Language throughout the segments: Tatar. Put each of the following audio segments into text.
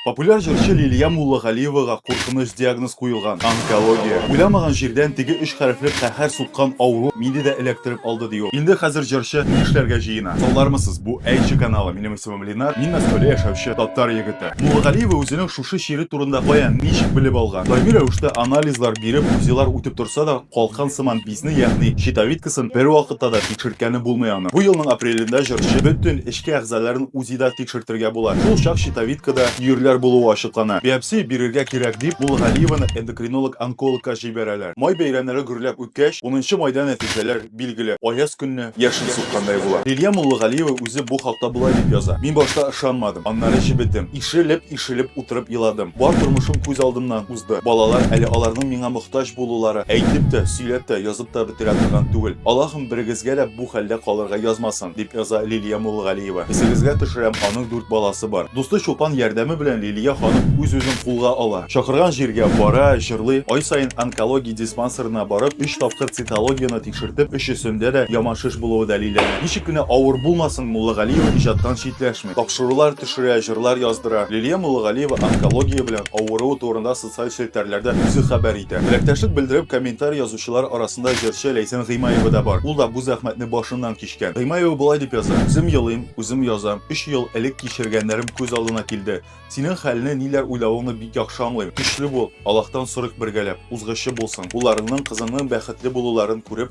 Популяр җырчы Лилия Муллагалиевага куркыныч диагноз куелган, онкология. Уйламаган җирдән теге өч хәрефле каһәр суккан авыру мине дә эләктереп алды, ди ул. Инде хәзер җырчы ни эшләргә җыена? Саулармысыз, бу Әйче каналы, минем исемем Ленар, мин Мәскәүдә яшәүче татар егете. Муллагалиева үзенең шушы чире турында каян, ничек белеп алган? Даими рәвештә анализлар биреп, УЗИлар үтеп торса да, Калкан сыман бизне, ягъни щитовидкасын бервакытта да тикшерткәне булмый аның. Бу елның апрелендә җырчы бөтен эчке әгъзаларын УЗИда тикшертергә була. Шул чак щитовидкада йөрләр булуы ачыклана. Биопсия бирергә кирәк дип, Муллгалиеваны эндокринолог-онкологка җибәрәләр. Май бәйрәмнәре гөрләп үткәч, унынчы майда нәтиҗәләр билгеле, аяз көнне яшен суккандай була. Лилия Муллгалиева үзе бу хакта болай дип яза, Мин башта ышанмадым, аннары җебедем. Ишелеп-ишелеп утырып еладым. Бар тормышым күз алдымнан Б. Балалар әле аларның миңа мохтаҗ булулары әйтеп тә, сөйләп тә, язып та бетерә торган түгел. Аллаһым берегезгә дә бу хәлдә калырга язмасын, дип яза Лилия Муллгалиева. Исегезгә төшерәм, аның дүрт баласы бар. Дусты Чулпан ярдәме белән Лилия ханым үз-үзен кулга ала. Чакырган җиргә бара, җырлый. Ай саен онкология диспансерына барып, өч тапкыр цитологияне тикшертеп, өчесендә дә яман шеш булуы дәлилләнә. Ничек кенә авыр булмасын, Муллагалиева иҗаттан читләшми. Тапшырулар төшерә, җырлар яздыра. Лилия Муллагалиева онкология белән авыруы турында социаль челтәрләрдә үзе хәбәр итә. Теләктәшлек белдереп комментарий язучылар арасында җырчы Ләйсән Гыймаева да бар. Ул да бу зәхмәтне башыннан кичкән. Гыймаева болай дип яза, Үзем елыйм, үзем язам. Өч ел элек кичергәннәрем күз алдына килде. Синең хәлне, ниләр уйлавыңны бик яхшы аңлыйм. Көчле бул, Аллаһтан сорыйк бергәләп, узгычы булсын. Улларыңның, кызыңның бәхетле булуларын күреп,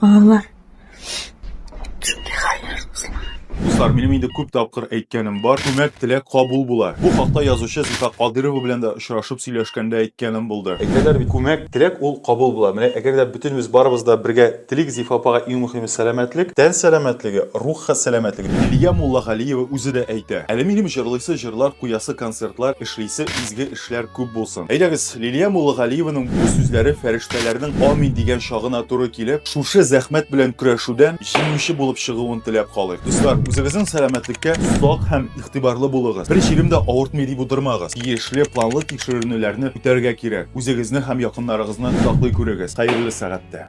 Балалар. Шундый хәлләр кызлар. Дуслар, минем инде күп тапкыр әйткәнем бар, күмәк теләк кабул була. Бу хакта язучы Зифа Кадырова белән дә очрашып сөйләшкәндә әйткәнем булды. Әйтәләр бит, күмәк теләк ул кабул була. Менә әгәр дә бөтенебез барыбыз да бергә телик, Зифа апага иң мөхиме сәламәтлек, тән сәламәтлеге, рух сәламәтлеге. Лилия Муллагалиева үзе дә әйтә, әле минем җырлыйсы җырлар, куясы концертлар, эшлисе изге эшләр. яшьләр күп булсын. Әйдәгез, Лилия Муллагалиеваның бу сүзләре фәрештәләрнең амин дигән чагына туры килеп, шушы зәхмәт белән көрәшүдән җиңүче булып чыгуын теләп калыйк. Дуслар, үзегезнең сәламәтлеккә сак һәм игътибарлы булыгыз. Бер җирем дә авыртмый дип утырмагыз. Тиешле планлы тикшеренүләрне үтәргә кирәк. Үзегезне һәм якыннарыгызны саклый күрегез. Хәерле сәгатьтә!